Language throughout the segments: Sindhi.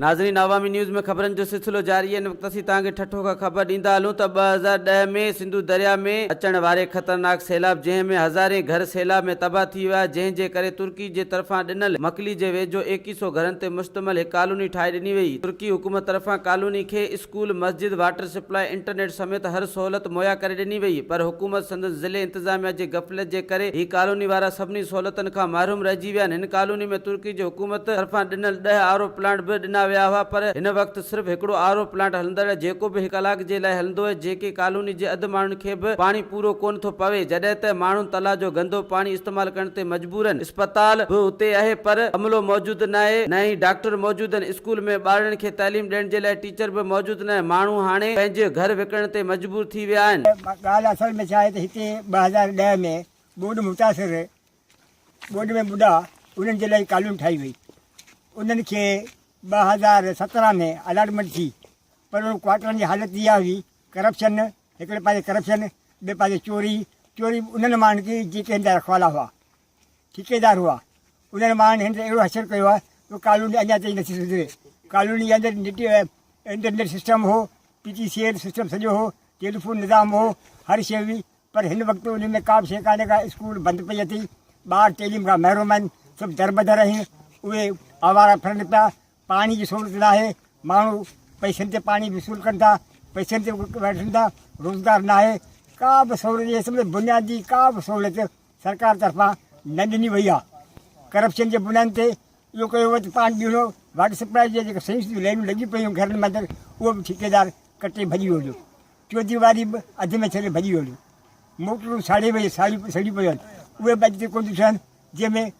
ناظرين عوامي نيوز ۾ خبرن جو سلسلو جاري هي ان وقت اسين توهان کي ٺٽو کان خبر ڏيندا هلون ته ٻه هزار ڏهه ۾ سنڌو درياء ۾ اچڻ واري خطرناڪ سيلاب جنهن ۾ هزارين گهر سيلاب ۾ تباهه ٿي ويا جنهن جي ڪري ترڪي جي طرفان ڏنل مڪلي جي ويجهو ايڪيهه سئو گهرن تي مشتمل هڪ ڪالوني ٺاهي ڏني وئي ترڪي حڪومت طرفان ڪالوني کي اسڪول، مسجد، واٽر سپلائي، انٽرنيٽ سميت هر سهولت مهيا ڪري ڏني وئي پر حڪومت سندن ضلعي انتظاميا جي غفلت جي ڪري هي ڪالوني وارا سڀني سهولتن کان محروم رهجي ويا آهن هن ڪالوني ۾ ترڪي جي حڪومت طرفان ڏنل ڏهه آر او پلانٽ به ڏنا ويا هئا پر هن وقت صرف هڪڙو آر او پلانٽ هلندڙ جيڪو به هڪ ڪلاڪ جي لاء هلندو آهي جنهن ڪي ڪالوني جي اڌ ماڻهن کي به پاڻي پورو ڪونه ٿو پوي جڏهن ته ماڻهن تلا جو گندو پاڻي استعمال ڪرڻ تي مجبورن اسپتال به اتي اهي پر عملو موجود ناهي نه ئي ڊاڪٽر موجود ان اسڪول ۾ ٻارڙن کي تعليم ڏيڻ جي لاء ٽيچر به موجود نه ماڻهو هاڻي پنهنجي گهر وڪڻڻ تي مجبور ٿي ويا آهن. ڳالهه اصل ۾ ڇا آهي ته هتي ٻه هزار ڏهه ۾ ٻوڏ متاثر ٻوڏ ۾ ٻڏا انهن جي لاء ڪالوني ٺاهي وئي انهن کي ٻه هزار سترهن ۾ الاٽمينٽ ٿي پر انهن ڪوارٽرن جي حالت اها هئي ڪرپشن هڪڙي پاسي ڪرپشن، ٻئي پاسي چوري، چوري به انهن ماڻهن جي جيڪي هن جا رکوالا هئا، ٺيڪيدار هئا، انهن ماڻهن هن تي اهڙو حشر ڪيو آهي جو ڪالوني اڃا تائين نٿي سڌري، ڪالوني جي اندر نيٽ انٽرنيٽ سسٽم هو، P T C L system سڄو هو، ٽيليفون نظام هو، هر شيء هئي، پر هن وقت انهي ۾ ڪابه شيء ڪانهي ڪا، اسڪول بند پئي اٿئي، ٻار تعليم کان محروم آهن، سڀ دربدر آهن، اهي آوارا ڦرن پيا، پاڻي جي سھولت ناھي، ماڻھو پئسن تي پاڻي وصول ڪن ٿا، پئسن تي وٺن ٿا، روزگار ناھي، ڪا به سھولت جي سمجهه بنيادي ڪا به سھولت سرڪار طرفان نه ڏني وئي آ، ڪرپشن جي بنيادن تي اھو ڪيو ويو ته پاڻي ٻيڻو واٽر سپلائي جي جيڪي سينس جون لينون لڳي پيون گهرن ۾ اندر اھو به ٺيڪيدار ڪٽي ڀڄي ويو جو چوديواري به اڌ ۾ ڇڏي ڀڄي ويو جو موٽرون ساڙي ويون ساڙي سڙي پيون اھي به اڄ تائين ڪون ڏٺل آھن جنهن ۾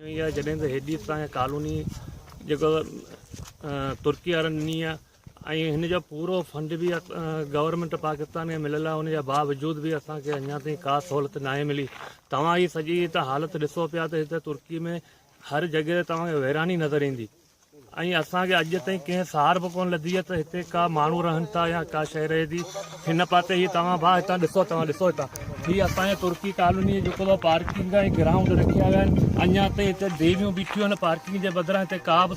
ائين ئي آهي جڏهن ته هيڏي اسان کي ڪالوني جيڪو ترڪي وارن ڏني آهي ۽ هن جو پورو فنڊ به گورنمنٽ پاڪستان کي مليل آهي ان جا باوجود به اسان کي اڃا تائين ڪا سهولت ناهي ملي توهان هي سڄي هت حالت ڏسو پيا ته هت ترڪي ۾ هر جڳهه تي توهان کي ويراني نظر ايندي ۽ اسان کي اڄ تائين ڪنهن سار به ڪونه لڌي آهي ته هتي ڪا ماڻهو رهن ٿا يا ڪا شيء رهي ٿي هن پاسي هي توهان ڀا هتان ڏسو توهان ڏسو هتان هي اسان جي ترڪي ڪالوني جيڪو ڀا پارڪنگ ۽ گرائونڊ رکيا ويا آهن اڃا تائين هتي ديويون بيٺيون آهن پارڪنگ جي بدران هتي ڪا به